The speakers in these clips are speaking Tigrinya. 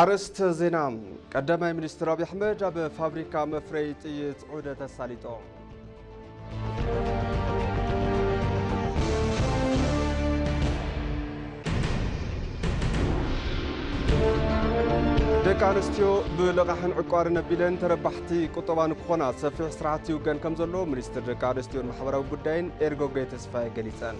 ኣርእስተ ዜና ቀዳማይ ሚኒስትር ኣብዪ ኣሕመድ ኣብ ፋብሪካ መፍረዪ ጥይት ዑደት ኣሳሊጦም ደቂ ኣንስትዮ ብልቓሕን ዕቋርን ኣቢለን ተረባሕቲ ቁጠባ ንክኾና ሰፊሕ ስራሕቲ ይውገን ከም ዘሎ ሚኒስትር ደቂ ኣንስትዮን ማሕበራዊ ጉዳይን ኤርጎጌ ተስፋዬ ገሊፀን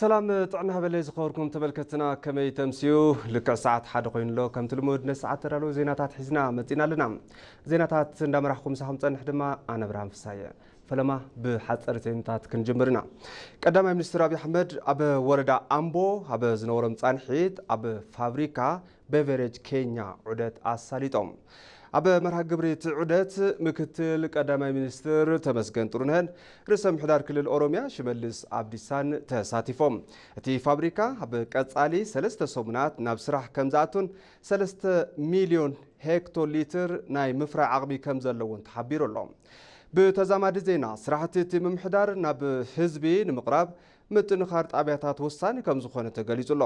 ሰላም ጥዕና ሃበለይ ዝኸበርኩም ተመልከትና ከመይ ተምስዩ ልክዕ ሰዓት ሓደ ኮይኑ ኣሎ ከምቲ ልሙድ ነዚ ሰዓት ተዳለዉ ዜናታት ሒዝና መፂና ኣለና ዜናታት እንዳመራሕኩም ምሳኹም ፀንሕ ድማ ኣነ ብርሃን ፍሳየ ፈለማ ብሓፀርቲ ዜናታት ክንጅምር ኢና ቀዳማይ ሚኒስትር ኣብዪ ኣሕመድ ኣብ ወረዳ ኣምቦ ኣብ ዝነበሮም ፃንሒት ኣብ ፋብሪካ ቤቨሬጅ ኬኛ ዑደት ኣሳሊጦም። ኣብ መርሃ ግብሪ እቲ ዑደት ምክትል ቀዳማይ ሚኒስትር ተመስገን ጥሩነህን ርእሰ ምሕዳር ክልል ኦሮሚያ ሽመልስ ኣብዲሳን ተሳቲፎም። እቲ ፋብሪካ ኣብ ቀፃሊ ሰለስተ ሰሙናት ናብ ስራሕ ከምዝኣቱን ሰለስተ ሚሊዮን ሄክቶ ሊትር ናይ ምፍራይ ዓቕሚ ከምዘለዎን ተሓቢሩ ኣሎ። ብተዛማዲ ዜና ስራሕቲ እቲ ምምሕዳር ናብ ህዝቢ ንምቕራብ ምጥንኻር ጣቢያታት ወሳኒ ከምዝኾነ ተገሊፁ ኣሎ።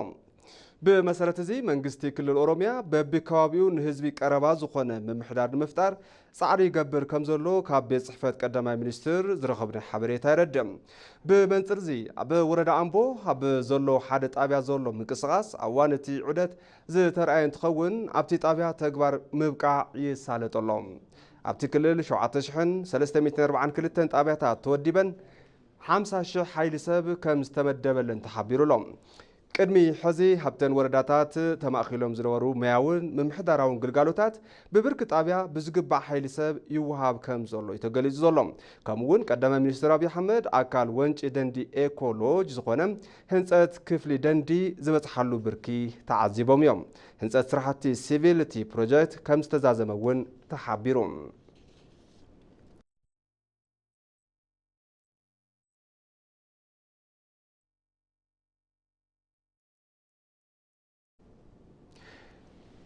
ብመሰረት እዚ መንግስቲ ክልል ኦሮሚያ በቢከባቢኡ ንህዝቢ ቀረባ ዝኾነ ምምሕዳር ንምፍጣር ፃዕሪ ይገብር ከምዘሎ ካብ ቤት ፅሕፈት ቀዳማይ ሚኒስትር ዝረኸብናዮ ሓበሬታ የረድእ። ብመንፅር እዚ ኣብ ወረዳ ኣምቦ ኣብ ዘሎ ሓደ ጣብያ ዘሎ ምንቅስቓስ ኣብ እዋን እቲ ዑደት ዝተርኣየ እንትኸውን ኣብቲ ጣብያ ተግባር ምብቃዕ ይሳለጥ ኣሎ። ኣብቲ ክልል ሸውዓተ ሽሕን ሰለስተ ሚእትን ኣርብዓን ክልተን ጣብያታት ተወዲበን ሓምሳ ሽሕ ሓይሊ ሰብ ከምዝተመደበለን ተሓቢሩ ኣሎ። ቅድሚ ሕዚ ኣብተን ወረዳታት ተማእኪሎም ዝነበሩ ሞያውን ምምሕዳራውን ግልጋሎታት ብብርኪ ጣብያ ብዝግባእ ሓይሊ ሰብ ይወሃብ ከም ዘሎ'ዩ ተገሊፁ ዘሎ። ከምኡ እውን ቀዳማይ ሚኒስትር ኣብዪ ኣሕመድ ኣካል ወንጪ ደንዲ ኤኮ ሎጅ ዝኾነ ህንፀት ክፍሊ ደንዲ ዝበፅሓሉ ብርኪ ተዓዚቦም እዮም። ህንፀት ስራሕቲ ሲቪል እቲ ፕሮጀክት ከም ዝተዛዘመ እውን ተሓቢሩ።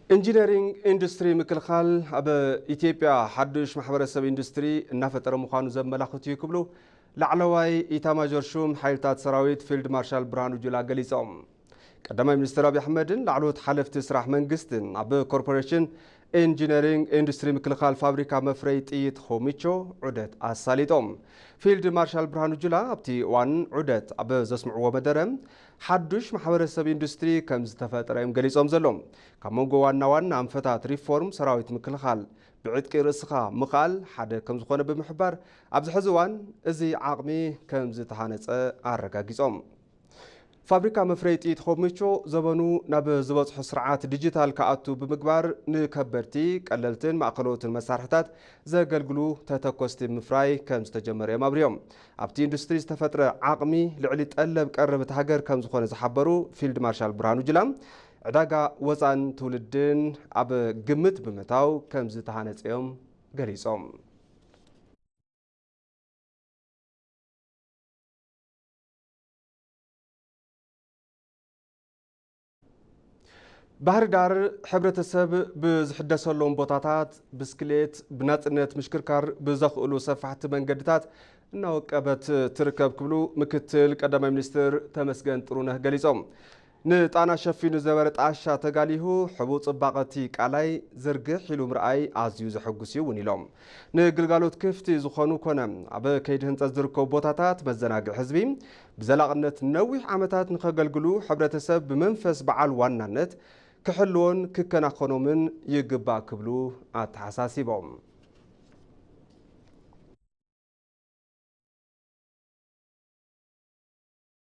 ኢንጂነሪንግ ኢንዱስትሪ ምክልኻል ኣብ ኢትዮጵያ ሓዱሽ ማሕበረሰብ ኢንዱስትሪ እናፈጠረ ምዃኑ ዘመላኽት እዩ ክብሉ ላዕለዋይ ኢታማዦር ሹም ሓይልታት ሰራዊት ፊልድ ማርሻል ብርሃኑ ጁላ ገሊፆም። ቀዳማይ ሚኒስትር ኣብዪ ኣሕመድን ላዕለዎት ሓለፍቲ ስራሕ መንግስትን ኣብ ኮርፖሬሽን ኢንጂነሪንግ ኢንዱስትሪ ምክልኻል ፋብሪካ መፍረይ ጥይት ኾሚቾ ዑደት ኣሳሊጦም። ፊልድ ማርሻል ብርሃኑ ጁላ ኣብቲ እዋን ዑደት ኣብ ዘስምዕዎ መደረ ሓዱሽ ማሕበረሰብ ኢንዱስትሪ ከም ዝተፈጥረ እዮም ገሊፆም ዘሎም። ካብ መንጎ ዋና ዋና ኣንፈታት ሪፎርም ሰራዊት ምክልኻል ብዕጥቂ ርእስኻ ምኽኣል ሓደ ከም ዝኾነ ብምሕባር ኣብዚ ሕዚ እዋን እዚ ዓቕሚ ከም ዝተሃነፀ ኣረጋጊፆም። ፋብሪካ መፍረዪ ጥይት ኾሚቾ ዘበኑ ናብ ዝበፅሖ ስርዓት ዲጂታል ክኣቱ ብምግባር ንከበድቲ፣ ቀለልትን ማእኸለዎትን መሳርሕታት ዘገልግሉ ተተኮስቲ ምፍራይ ከምዝተጀመረ እዮም ኣብሪሆም። ኣብቲ ኢንዱስትሪ ዝተፈጥረ ዓቕሚ ልዕሊ ጠለብ ቀረብ እታ ሃገር ከምዝኾነ ዝሓበሩ ፊልድ ማርሻል ብርሃኑ ጁላ፣ ዕዳጋ ወፃእን ትውልድን ኣብ ግምት ብምእታው ከምዝተሃነፀ እዮም ገሊፆም። ባህር ዳር ሕብረተሰብ ብዝሕደሰሎም ቦታታት ብስክሌት ብናፅነት ምሽክርካር ብዘኽእሉ ሰፋሕቲ መንገድታት እናወቀበት ትርከብ ክብሉ ምክትል ቀዳማይ ሚኒስትር ተመስገን ጥሩነህ ገሊፆም። ንጣና ሸፊኑ ዝበረ ጣሻ ተጋሊሁ ሕቡእ ጽባቐ እቲ ቃላይ ዝርግሕ ኢሉ ምርኣይ ኣዝዩ ዘሐጉስ እዩ እውን ኢሎም። ንግልጋሎት ክፍቲ ዝኾኑ ኮነ ኣብ ከይዲ ህንፀት ዝርከቡ ቦታታት መዘናግዒ ህዝቢ ብዘላቕነት ንነዊሕ ዓመታት ንከገልግሉ ሕብረተሰብ ብመንፈስ በዓል ዋናነት ክሕልዎን ክከናኸኖምን ይግባእ ክብሉ ኣተሓሳሲቦም።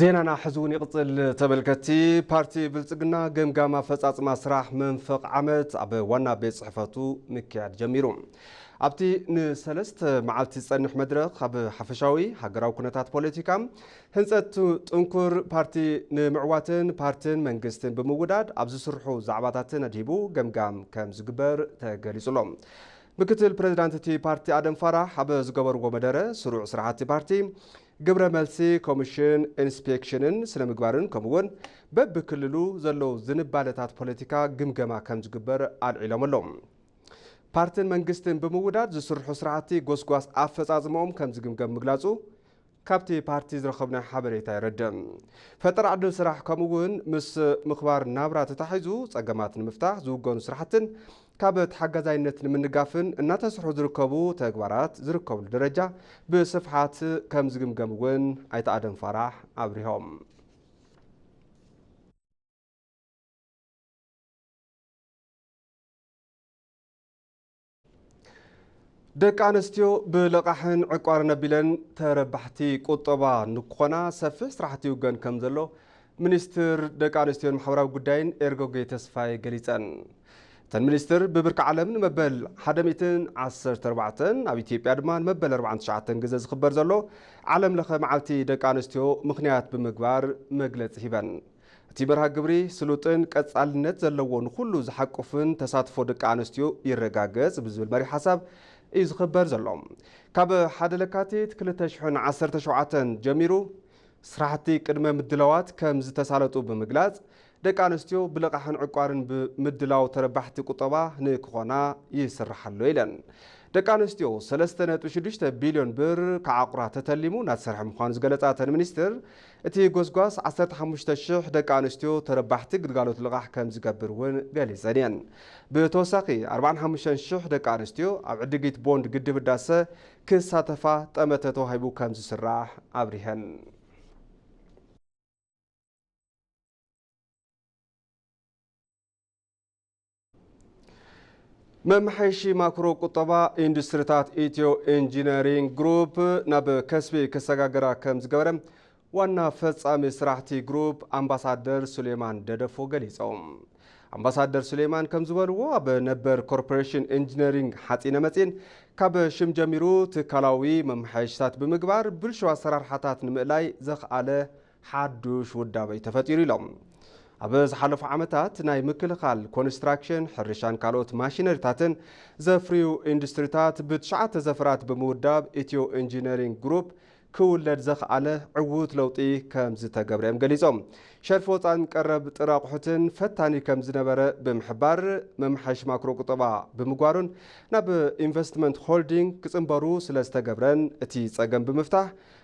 ዜናና ሕዚ እውን ይቕፅል። ተመልከቲ ፓርቲ ብልፅግና ገምጋም ኣፈፃፅማ ስራሕ መንፈቕ ዓመት ኣብ ዋና ቤት ፅሕፈቱ ምክያድ ጀሚሩ። ኣብቲ ንሰለስተ መዓልቲ ዝፀንሕ መድረኽ ኣብ ሓፈሻዊ ሃገራዊ ኩነታት ፖለቲካ፣ ህንፀት ጥንኩር ፓርቲ ንምዕዋትን ፓርትን መንግስትን ብምውዳድ ኣብ ዝስርሑ ዛዕባታትን ኣድሂቡ ገምጋም ከምዝግበር ተገሊፁ ኣሎ። ምክትል ፕሬዚዳንት እቲ ፓርቲ ኣደም ፋራህ ኣብ ዝገበርዎ መደረ ስሩዕ ስራሕቲ ፓርቲ ግብረ መልሲ ኮሚሽን ኢንስፔክሽንን ስነ ምግባርን ከምኡውን በብክልሉ ዘለዉ ዝንባለታት ፖለቲካ ግምገማ ከምዝግበር ኣልዒሎም ኣሎም። ፓርትን መንግስትን ብምውዳድ ዝስርሑ ስራሕቲ ጎስጓስ ኣፈፃፅመኦም ከምዝግምገም ምግላፁ ካብቲ ፓርቲ ዝረኸብናዮ ሓበሬታ የረድእ። ፈጠራ ዕድል ስራሕ ከምኡ እውን ምስ ምኽባር ናብራ ተታሒዙ ፀገማት ንምፍታሕ ዝውገኑ ስራሕትን ካብ ተሓጋዛይነት ንምንጋፍን እናተስርሑ ዝርከቡ ተግባራት ዝርከብሉ ደረጃ ብስፍሓት ከም ዝግምገም እውን ኣይተ ኣደም ፋራሕ ኣብሪሆም። ደቂ ኣንስትዮ ብልቓሕን ዕቋርን ኣቢለን ተረባሕቲ ቁጠባ ንክኾና ሰፊሕ ስራሕቲ ይውገን ከም ዘሎ ሚኒስትር ደቂ ኣንስትዮን ማሕበራዊ ጉዳይን ኤርጎጌ ተስፋይ ገሊፀን። እተን ሚኒስትር ብብርኪ ዓለም ንመበል 114 ኣብ ኢትዮጵያ ድማ ንመበል 49 ግዘ ዝኽበር ዘሎ ዓለም ለኸ መዓልቲ ደቂ ኣንስትዮ ምክንያት ብምግባር መግለፂ ሂበን እቲ መርሃ ግብሪ ስሉጥን ቀፃልነት ዘለዎ ንኹሉ ዝሓቁፍን ተሳትፎ ደቂ ኣንስትዮ ይረጋገፅ ብዝብል መሪሕ ሓሳብ እዩ ዝኽበር ዘሎ። ካብ ሓደ ለካቲት ክልተ ሽሕን ዓሰርተ ሸውዓተን ጀሚሩ ስራሕቲ ቅድመ ምድላዋት ከም ዝተሳለጡ ብምግላፅ ደቂ ኣንስትዮ ብልቓሕን ዕቋርን ብምድላው ተረባሕቲ ቁጠባ ንክኾና ይስራሕ ኣሎ ኢለን። ደቂ ኣንስትዮ ሰለስተ ነጥቢ ሽዱሽተ ቢልዮን ብር ክዓቑራ ተተሊሙ እናተሰርሐ ምዃኑ ዝገለፃ እተን ሚኒስትር እቲ ጎስጓስ ዓሰርተ ሓሙሽተ ሽሕ ደቂ ኣንስትዮ ተረባሕቲ ግልጋሎት ልቓሕ ከምዝገብር እውን ገሊፀን እየን። ብተወሳኺ ኣርብዓን ሓሙሽተን ሽሕ ደቂ ኣንስትዮ ኣብ ዕድጊት ቦንድ ግድብ ህዳሰ ክሳተፋ ጠመተ ተዋሂቡ ከምዝስራሕ ኣብሪሀን። መመሓየሺ ማክሮ ቁጠባ ኢንዱስትሪታት ኢትዮ ኢንጂነሪንግ ግሩፕ ናብ ከስቢ ክሰጋገራ ከም ዝገበረ ዋና ፈጻሚ ስራሕቲ ግሩፕ ኣምባሳደር ሱሌማን ደደፎ ገሊፆም። ኣምባሳደር ሱሌማን ከም ዝበልዎ ኣብ ነበር ኮርፖሬሽን ኢንጂነሪንግ ሓፂነ መፂን ካብ ሽም ጀሚሩ ትካላዊ መመሓየሽታት ብምግባር ብልሹ ኣሰራርሓታት ንምእላይ ዘኽኣለ ሓዱሽ ውዳበ'ዩ ተፈጢሩ ኢሎም። ኣብ ዝሓለፉ ዓመታት ናይ ምክልኻል፣ ኮንስትራክሽን፣ ሕርሻን ካልኦት ማሽነሪታትን ዘፍርዩ ኢንዱስትሪታት ብትሽዓተ ዘፈራት ብምውዳብ ኢትዮ ኢንጂነሪንግ ግሩፕ ክውለድ ዘኽኣለ ዕዉት ለውጢ ከምዝተገብረ እዮም ገሊፆም። ሸርፊ ወፃእን ቀረብ ጥረ ኣቑሑትን ፈታኒ ከምዝነበረ ብምሕባር መመሓየሺ ማክሮ ቁጠባ ብምግባሩን ናብ ኢንቨስትመንት ሆልዲንግ ክፅምበሩ ስለዝተገብረን እቲ ፀገም ብምፍታሕ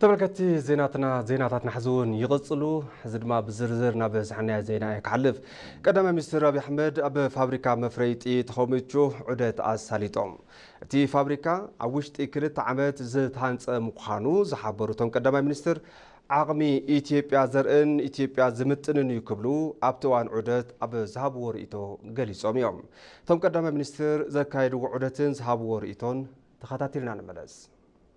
ተመልከቲ ዜናትና ዜናታትና ሕዚ እውን ይቕፅሉ ሕዚ ድማ ብዝርዝር ናብ ዝሓናዮ ዜና እየ ክሓልፍ ቀዳማይ ሚኒስትር ኣብዪ ኣሕመድ ኣብ ፋብሪካ መፍረይ ጥይት ሆሚቹ ዑደት ኣሳሊጦም እቲ ፋብሪካ ኣብ ውሽጢ ክልተ ዓመት ዝተሃንፀ ምዃኑ ዝሓበሩ እቶም ቀዳማይ ሚኒስትር ዓቕሚ ኢትዮጵያ ዘርእን ኢትዮጵያ ዝምጥንን እዩ ክብሉ ኣብቲ እዋን ዑደት ኣብ ዝሃብዎ ርእይቶ ገሊፆም እዮም እቶም ቀዳማይ ሚኒስትር ዘካየድዎ ዑደትን ዝሃብዎ ርእይቶን ተኸታቲልና ንመለስ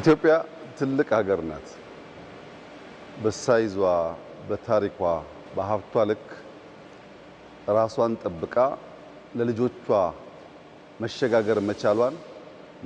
ኢትዮጵያ ትልቅ ሀገር ናት በሳይዟ በታሪኳ በሀብቷ ልክ እራሷን ጠብቃ ለልጆቿ መሸጋገር መቻሏን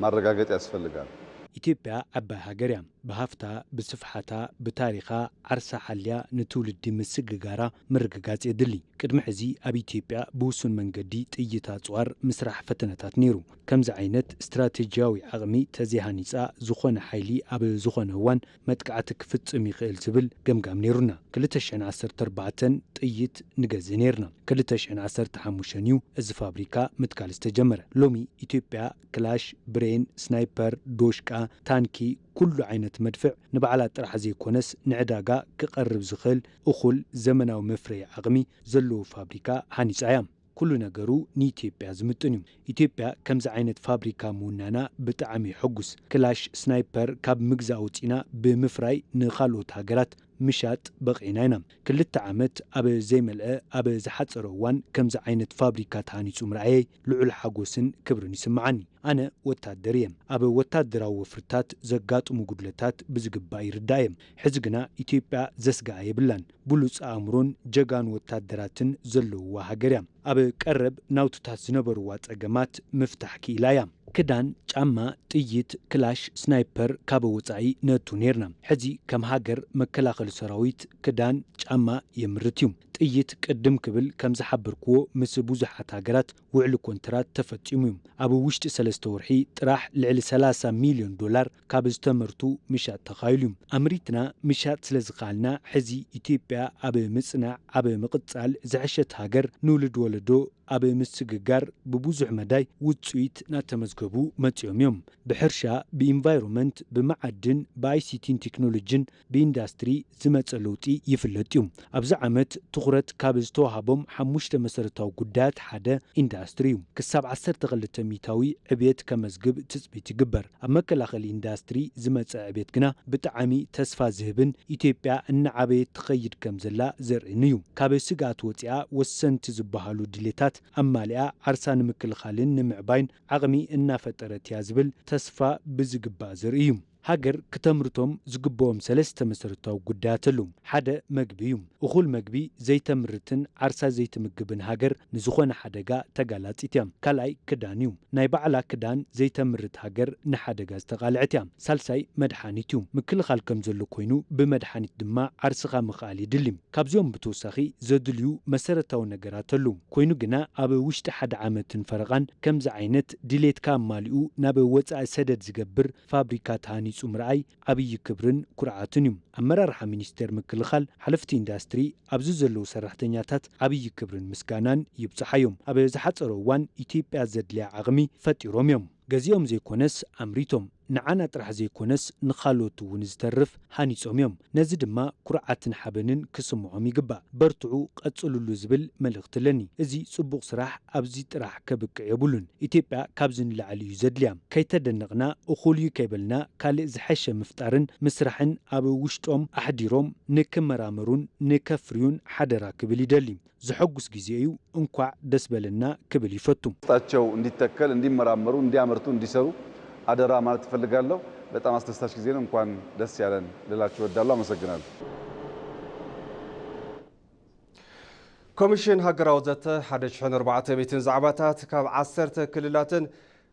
ማረጋገጥ ያስፈልጋል። ኢትዮጵያ ዓባይ ሃገር እያ ብሃፍታ ብስፍሓታ ብታሪኻ ዓርሳ ሓልያ ንትውልዲ ምስግጋራ ምርግጋፅ የድሊ ቅድሚ ሕዚ ኣብ ኢትዮጵያ ብውሱን መንገዲ ጥይት ኣፅዋር ምስራሕ ፈተነታት ነይሩ ከምዚ ዓይነት ስትራቴጂያዊ ዓቕሚ ተዘይሃኒጻ ዝኾነ ሓይሊ ኣብ ዝኾነ እዋን መጥቃዕቲ ክፍጽም ይኽእል ዝብል ገምጋም ነይሩና። ክልተ ሽሕን ዓሰርተ ኣርባዕተን ጥይት ንገዝእ ነይርና። ክልተ ሽሕን ዓሰርተ ሓሙሽተን እዩ እዚ ፋብሪካ ምትካል ዝተጀመረ። ሎሚ ኢትዮጵያ ክላሽ፣ ብሬን፣ ስናይፐር፣ ዶሽቃ፣ ታንኪ፣ ኩሉ ዓይነት መድፍዕ ንባዕላ ጥራሕ ዘይኮነስ ንዕዳጋ ክቐርብ ዝኽእል እኹል ዘመናዊ መፍረዪ ዓቕሚ ዘለዎ ፋብሪካ ሃኒጻ እያ። ኩሉ ነገሩ ንኢትዮጵያ ዝምጥን እዩ ኢትዮጵያ ከምዚ ዓይነት ፋብሪካ ምውናና ብጣዕም እዩ ሕጉስ ክላሽ ስናይፐር ካብ ምግዛእ ወፂእና ብምፍራይ ንካልኦት ሃገራት ምሻጥ በቂዕና ኢና ክልተ ዓመት ኣብ ዘይመልኣ ኣብ ዝሓፀረ እዋን ከምዚ ዓይነት ፋብሪካ ተሃኒፁ ምርኣየይ ልዑል ሓጎስን ክብርን ይስመዓኒ ኣነ ወታደር እየ ኣብ ወታደራዊ ወፍርታት ዘጋጥሙ ጉድለታት ብዝግባእ ይርዳእ እየ ሕዚ ግና ኢትዮጵያ ዘስገኣ የብላን ብሉጽ ኣእምሮን ጀጋኑ ወታደራትን ዘለዉዋ ሃገር እያ። ኣብ ቀረብ ናውትታት ዝነበሩዋ ጸገማት ምፍታሕ ክኢላ እያ። ክዳን፣ ጫማ፣ ጥይት፣ ክላሽ፣ ስናይፐር ካበ ወጻኢ ነእቱ ኔርና። ሕዚ ከም ሃገር መከላኸሊ ሰራዊት ክዳን፣ ጫማ የምርት እዩ። ጥይት ቅድም ክብል ከም ዝሓበርኩዎ ምስ ብዙሓት ሃገራት ውዕሊ ኮንትራት ተፈጺሙ እዩ። ኣብ ውሽጢ ሰለስተ ወርሒ ጥራሕ ልዕሊ ሰላሳ ሚልዮን ዶላር ካብ ዝተመርቱ ምሻጥ ተኻኢሉ ዩ። ኣምሪትና ምሻጥ ስለ ዝኸኣልና ሕዚ ኢትዮጵያ ኣብ ምፅናዕ ኣብ ምቕፃል ዝሐሸት ሃገር ንውልድ ወለዶ ኣብ ምስግጋር ብቡዙሕ መዳይ ውፅኢት ናተመዝገቡ መፂኦም ዮም። ብሕርሻ፣ ብኢንቫይሮመንት፣ ብመዓድን፣ ብኣይሲቲን ቴክኖሎጅን፣ ብኢንዳስትሪ ዝመፀ ለውጢ ይፍለጥ ዩ። ኣብዚ ዓመት ትኹረት ካብ ዝተውሃቦም ሓሙሽተ መሰረታዊ ጉዳያት ሓደ ኢንዳስትሪ ዩ። ክሳብ ዓሰርተ ክልተ ሚኢታዊ ዕብየት ከመዝግብ ትፅቢት ይግበር። ኣብ መከላኸሊ ኢንዳስትሪ ዝመፀ ዕብየት ግና ብጣዓሚ ተስፋ ዝህብን ኢትዮጵያ እናዓበየት ትኸይድ ከምዘላ ዘርእን ዩ። ካብ ስግኣት ወፂኣ ወሰንቲ ዝባሃሉ ድሌታት ኣማሊኣ ዓርሳ ንምክልኻልን ንምዕባይን ዓቕሚ እናፈጠረት ያ ዝብል ተስፋ ብዝግባእ ዘርኢ ዩ። ሃገር ክተምርቶም ዝግበኦም ሰለስተ መሰረታዊ ጉዳያት ኣለው። ሓደ መግቢ እዩ። እኹል መግቢ ዘይተምርትን ዓርሳ ዘይትምግብን ሃገር ንዝኾነ ሓደጋ ተጋላጺት እያ። ካልኣይ ክዳን እዩ። ናይ ባዕላ ክዳን ዘይተምርት ሃገር ንሓደጋ ዝተቓልዐት እያ። ሳልሳይ መድሓኒት እዩ። ምክልኻል ከምዘሎ ኮይኑ ብመድሓኒት ድማ ዓርስኻ ምኽኣል የድሊ። ካብዚኦም ብተወሳኺ ዘድልዩ መሰረታዊ ነገራት ኣለው። ኮይኑ ግና ኣብ ውሽጢ ሓደ ዓመትን ፈረቓን ከምዚ ዓይነት ድሌትካ ኣማሊኡ ናብ ወጻኢ ሰደድ ዝገብር ፋብሪካ ተሃኒፁ ምርኣይ ዓብዪ ክብርን ኩርዓትን ዩ። ኣመራርሓ ሚኒስቴር ምክልኻል፣ ሓለፍቲ ኢንዳስትሪ፣ ኣብዚ ዘለዉ ሰራሕተኛታት ዓብዪ ክብርን ምስጋናን ይብፀሓዮም። ኣብ ዝሓፀረ እዋን ኢትዮጵያ ዘድልያ ዓቕሚ ፈጢሮም ዮም። ገዚኦም ዘይኮነስ ኣምሪቶም ንዓና ጥራሕ ዘይኮነስ ንኻልኦት ውን ዝተርፍ ሃኒጾም እዮም ነዚ ድማ ኩርዓትን ሓበንን ክስምዖም ይግባእ በርትዑ ቀጽልሉ ዝብል መልእኽቲ ኣለኒ እዚ ጽቡቕ ስራሕ ኣብዚ ጥራሕ ከብቅዕ የብሉን ኢትዮጵያ ካብዚ ንላዕሊ እዩ ዘድልያ ከይተደነቕና እኹል እዩ ከይበልና ካልእ ዝሐሸ ምፍጣርን ምስራሕን ኣብ ውሽጦም ኣሕዲሮም ንክመራመሩን ንከፍርዩን ሓደራ ክብል ይደሊ ዘሐጉስ ግዜ እዩ እንኳዕ ደስ በለና ክብል ይፈቱ። ውስጣቸው እንዲተከል እንዲመራመሩ እንዲያመርቱ እንዲሰሩ አደራ ማለት እፈልጋለሁ። በጣም አስደሳች ጊዜ ነው እንኳን ደስ ያለን ልላችሁ እወዳለሁ። አመሰግናለሁ። ኮሚሽን ሃገራዊ ዘተ ሓደ ሽሕን ኣርባዕተ ሚእትን ዛዕባታት ካብ ዓሰርተ ክልላትን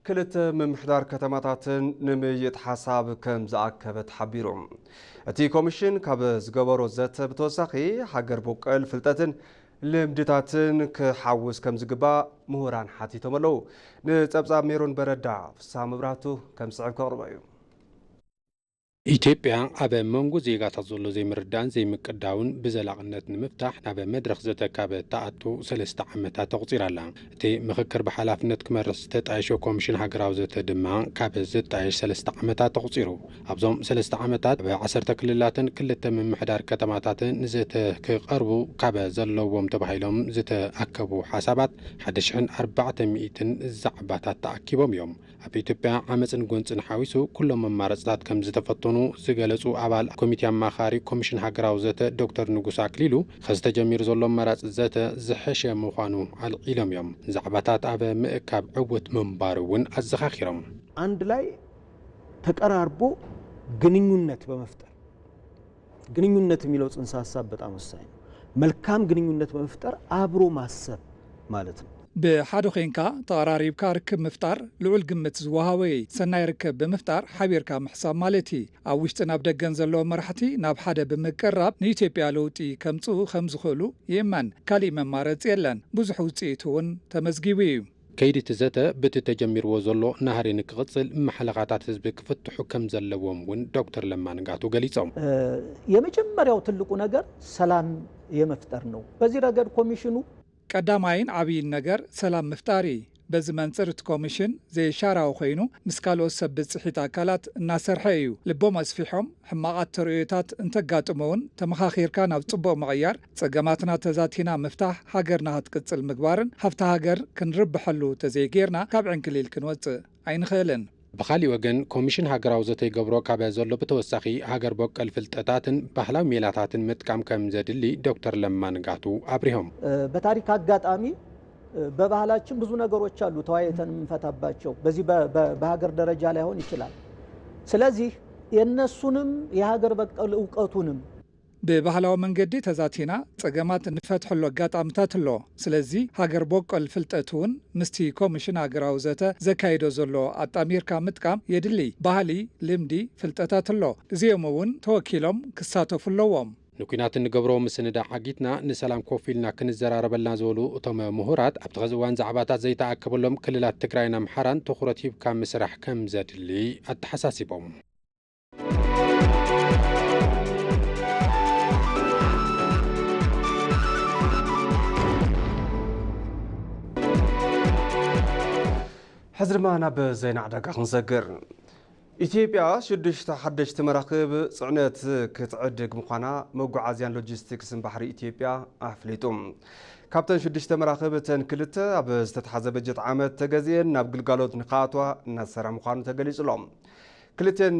ክልተ ምምሕዳር ከተማታትን ንምይይጥ ሓሳብ ከም ዝኣከበ ተሓቢሩ። እቲ ኮሚሽን ካብ ዝገበሮ ዘተ ብተወሳኺ ሃገር ቦቀል ፍልጠትን ልምድታትን ክሓውስ ከም ዝግባእ ምሁራን ሓቲቶም ኣለዉ። ንፀብፃብ ሜሮን በረዳ፣ ፍስሃ መብራህቱ ከም ዝስዕብ ከቕርቦ እዩ። ኢትዮጵያ ኣብ መንጎ ዜጋታት ዘሎ ዘይምርዳእን ዘይምቅዳውን ብዘላቕነት ንምፍታሕ ናብ መድረኽ ዘተ ካብ እትኣቱ ሰለስተ ዓመታት ኣቑፂራ ኣላ። እቲ ምኽክር ብሓላፍነት ክመርሕ ዝተጣየሾ ኮሚሽን ሃገራዊ ዘተ ድማ ካብ ዝጣየሽ ሰለስተ ዓመታት ኣቑፂሩ። ኣብዞም ሰለስተ ዓመታት ኣብ ዓሰርተ ክልላትን ክልተ ምምሕዳር ከተማታትን ንዘተ ክቐርቡ ካብ ዘለዎም ተባሂሎም ዝተኣከቡ ሓሳባት ሓደ ሽሕን ኣርባዕተ ሚኢትን ዛዕባታት ተኣኪቦም እዮም። ኣብ ኢትዮጵያ ዓመፅን ጎንፅን ሓዊሱ ኩሎም መማረፅታት ከምዝተፈተኑ ዝገለፁ ኣባል ኮሚቴ ኣማኻሪ ኮሚሽን ሃገራዊ ዘተ ዶክተር ንጉስ ኣክሊሉ ኸዚ ተጀሚሩ ዘሎ ኣማራፂ ዘተ ዝሐሸ ምዃኑ ኣልዒሎም እዮም። ዛዕባታት ኣብ ምእካብ ዕውት ምንባሩ እውን ኣዘኻኺሮም። ኣንድ ላይ ተቀራርቦ ግንኙነት በመፍጠር። ግንኙነት የሚለው ጽንሰ ሀሳብ በጣም ወሳኝ ነው። መልካም ግንኙነት በመፍጠር አብሮ ማሰብ ማለት ነው። ብሓደ ኮይንካ ተቐራሪብካ ርክብ ምፍጣር ልዑል ግምት ዝወሃቦ እዪ። ሰናይ ርክብ ብምፍጣር ሓቢርካ ምሕሳብ ማለት እዪ። ኣብ ውሽጥን ኣብ ደገን ዘለዉ መራሕቲ ናብ ሓደ ብምቅርራብ ንኢትዮጵያ ለውጢ ከምፅኡ ከምዝኽእሉ ይእመን። ካሊእ መማረፂ የለን። ብዙሕ ውፅኢት እውን ተመዝጊቡ እዪ። ከይዲ እቲ ዘተ ብቲ ተጀሚርዎ ዘሎ ናህሪ ንክቕፅል ማሕለኻታት ህዝቢ ክፍትሑ ከምዘለዎም እውን ዶክተር ለማ ንጋቱ ገሊፆም። የመጀመርያው ትልቁ ነገር ሰላም የመፍጠር ነው። በዚ ረገድ ኮሚሽኑ። ቀዳማይን ዓብይን ነገር ሰላም ምፍጣር እዪ። በዚ መንፅር እቲ ኮሚሽን ዘይሻራዊ ኮይኑ ምስ ካልኦት ሰብ ብፅሒት ኣካላት እናሰርሐ እዩ። ልቦም ኣስፊሖም ሕማቓት ተርእዮታት እንተጋጥሙ እውን ተመኻኺርካ ናብ ፅቡቕ ምቕያር ፀገማትና ተዛቲና ምፍታሕ፣ ሃገርና ሀትቅፅል ምግባርን ሃፍቲ ሃገር ክንርበሐሉ ተዘይገይርና ካብ ዕንክሊል ክንወፅእ ኣይንኽእልን። ብኻሊእ ወገን ኮሚሽን ሃገራዊ ዘተ ይገብሮ ካበ ዘሎ ብተወሳኺ ሃገር ቦቀል ፍልጠታትን ባህላዊ ሜላታትን ምጥቃም ከም ዘድሊ ዶክተር ለማ ንጋቱ ኣብሪሆም። በታሪክ አጋጣሚ በባህላችን ብዙ ነገሮች አሉ ተወያይተን የምንፈታባቸው በዚህ በሀገር ደረጃ ላይሆን ይችላል ስለዚህ የነሱንም የሀገር በቀል እውቀቱንም ብባህላዊ መንገዲ ተዛቲና ጸገማት እንፈትሐሉ ኣጋጣምታት ኣሎ። ስለዚ ሃገር ቦቆል ፍልጠት እውን ምስቲ ኮምሽን ሃገራዊ ዘተ ዘካይዶ ዘሎ ኣጣሚርካ ምጥቃም የድሊ። ባህሊ፣ ልምዲ፣ ፍልጠታት ኣሎ። እዚኦም እውን ተወኪሎም ክሳተፉ ኣለዎም። ንኲናት እንገብሮ ምስንዳእ ዓጊትና ንሰላም ኮፍ ኢልና ክንዘራረበልና ዝበሉ እቶም ምሁራት፣ ኣብቲ ኸዚ እዋን ዛዕባታት ዘይተኣከበሎም ክልላት ትግራይን ኣምሓራን ትኹረት ሂብካ ምስራሕ ከምዘድሊ ኣተሓሳሲቦም። ሕዚ ድማ ናብ ዜና ዕዳጋ ክንሰግር ኢትዮጵያ ሽዱሽተ ሓደሽቲ መራክብ ፅዕነት ክትዕድግ ምዃና መጓዓዝያን ሎጂስቲክስን ባሕሪ ኢትዮጵያ ኣፍሊጡ። ካብተን ሽዱሽተ መራክብ እተን ክልተ ኣብ ዝተተሓዘ በጀት ዓመት ተገዚኤን ናብ ግልጋሎት ንክኣትዋ እናተሰርሐ ምዃኑ ተገሊጹ ኣሎ። ክልቴን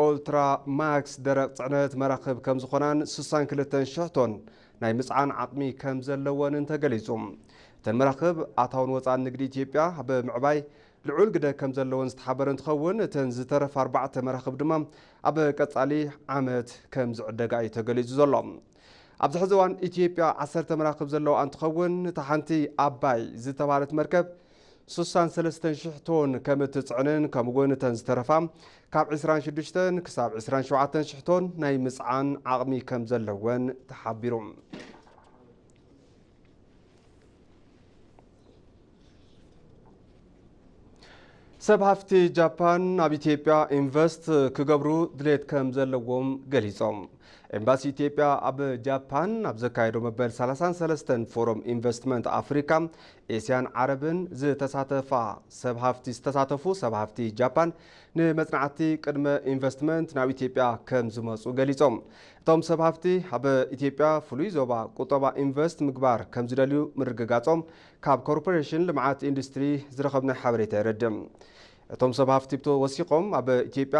ኦልትራ ማክስ ደረቕ ጽዕነት መራኽብ ከም ዝኾናን ስሳን ክልተን ሽሕ ቶን ናይ ምጽዓን ዓቕሚ ከም ዘለወንን ተገሊጹ። እተን መራኽብ ኣታውን ወጻእን ንግዲ ኢትዮጵያ ኣብ ምዕባይ ልዑል ግደ ከም ዘለወን ዝተሓበረ እንትኸውን፣ እተን ዝተረፋ ኣርባዕተ መራኽብ ድማ ኣብ ቀጻሊ ዓመት ከም ዝዕደጋ እዩ ተገሊጹ ዘሎ። ኣብዚ ሕዚ እዋን ኢትዮጵያ ዓሰርተ መራኽብ ዘለውኣ እንትኸውን፣ እታ ሓንቲ ኣባይ ዝተብሃለት መርከብ፣ ስሳን ሰለስተን ሽሕ ቶን ከም እትጽዕንን ከምኡ'ውን እተን ዝተረፋ ካብ ዕስራን ሽዱሽተን ክሳብ ዕስራን ሸውዓተን ሽሕ ቶን ናይ ምጽዓን ዓቕሚ ከም ዘለወን ተሓቢሩ። ሰብ ሃፍቲ ጃፓን ኣብ ኢትዮጵያ ኢንቨስት ክገብሩ ድሌት ከም ዘለዎም ገሊፆም። ኤምባሲ ኢትዮጵያ ኣብ ጃፓን ኣብ ዘካየዶ መበል ሰላሳን ሰለስተን ፎረም ኢንቨስትመንት ኣፍሪካ ኤስያን ዓረብን ዝተሳተፋ ሰብ ሃፍቲ ዝተሳተፉ ሰብ ሃፍቲ ጃፓን ንመፅናዕቲ ቅድመ ኢንቨስትመንት ናብ ኢትዮጵያ ከም ዝመፁ ገሊፆም። እቶም ሰብ ሃፍቲ ኣብ ኢትዮጵያ ፍሉይ ዞባ ቁጠባ ኢንቨስት ምግባር ከም ዝደልዩ ምርግጋፆም ካብ ኮርፖሬሽን ልምዓት ኢንዱስትሪ ዝረኸብናዮ ሓበሬታ የረድእ። እቶም ሰብ ሃፍቲ ወሲኾም ኣብ ኢትዮጵያ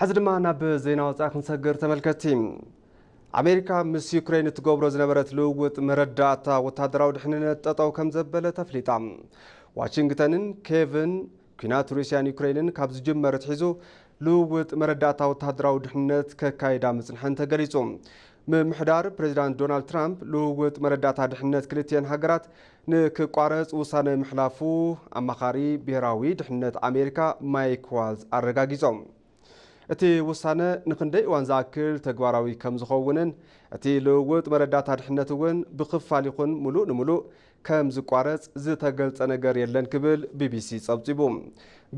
ሕዚ ድማ ናብ ዜና ወፃኢ ክንሰግር ተመልከቲ ኣሜሪካ ምስ ዩክሬን እትገብሮ ዝነበረት ልውውጥ መረዳእታ ወታደራዊ ድሕንነት ጠጠው ከም ዘበለ ተፍሊጣ ዋሽንግተንን ኬቭን ኩናት ሩስያን ዩክሬንን ካብ ዝጅመር ትሒዙ ልውውጥ መረዳእታ ወታደራዊ ድሕንነት ከካይዳ ምፅንሐን ተገሊፁ ምምሕዳር ፕሬዚዳንት ዶናልድ ትራምፕ ልውውጥ መረዳእታ ድሕንነት ክልትኤን ሃገራት ንክቋረጽ ውሳነ ምሕላፉ ኣማኻሪ ብሄራዊ ድሕንነት ኣሜሪካ ማይክ ዋልዝ ኣረጋጊጾም። እቲ ውሳነ ንኽንደይ እዋን ዝኣክል ተግባራዊ ከምዝኸውንን እቲ ልውውጥ መረዳእታ ድሕነት እውን ብኽፋል ይኹን ምሉእ ንምሉእ ከምዝቋረጽ ዝተገልጸ ነገር የለን ክብል ቢቢሲ ጸብጺቡ።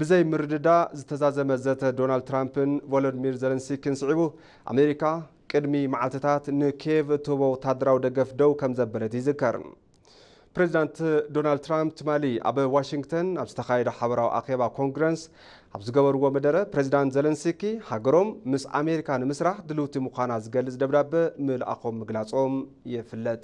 ብዘይ ምርድዳእ ዝተዛዘመ ዘተ ዶናልድ ትራምፕን ቮሎድሚር ዘለንሲኪን ስዒቡ ኣሜሪካ ቅድሚ መዓልትታት ንኬቭ እትህቦ ወተሃደራዊ ደገፍ ደው ከምዘበለት ይዝከር። ፕሬዚዳንት ዶናልድ ትራምፕ ትማሊ ኣብ ዋሽንግተን ኣብ ዝተኻየደ ሓበራዊ ኣኼባ ኮንግረስ ኣብ ዝገበርዎ መደረ ፕሬዚዳንት ዘለንስኪ ሃገሮም ምስ ኣሜሪካ ንምስራሕ ድልውቲ ምዃና ዝገልጽ ደብዳበ ምልኣኾም ምግላጾም ይፍለጥ።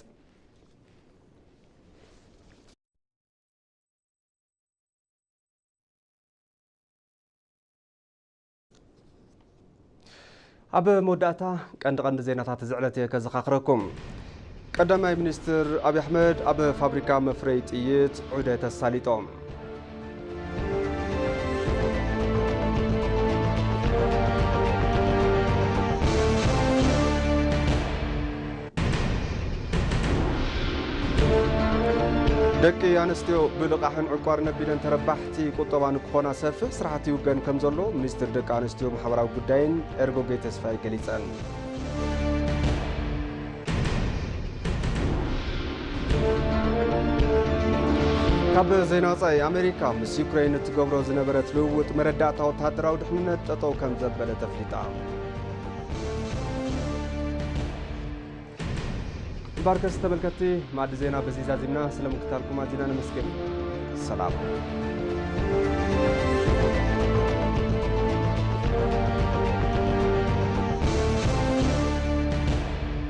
ኣብ መወዳእታ ቀንዲ ቀንዲ ዜናታት እዚ ዕለት እየ ከዘኻኽረኩም ቀዳማይ ሚኒስትር ኣብዪ ኣሕመድ ኣብ ፋብሪካ መፍረይ ጥይት ዑደት ኣሳሊጦም ደቂ ኣንስትዮ ብልቓሕን ዕቋር ነቢለን ተረባሕቲ ቁጠባ ንክኾና ሰፊሕ ስራሕቲ ይውገን ከም ዘሎ ሚኒስትር ደቂ ኣንስትዮ ማሕበራዊ ጉዳይን ኤርጎጌ ተስፋይ ገሊፀን ካብ ዜና ወፃኢ ኣሜሪካ ምስ ዩክሬን እትገብሮ ዝነበረት ልውውጥ መረዳእታ ወተሃደራዊ ድሕንነት ጠጠው ከም ዘበለ ተፍሊጣ ባርከስ ተመልከቲ ማዕዲ ዜና በዚ ዛዚምና ስለ ምክታልኩም ኣዚና ነመስግን ሰላም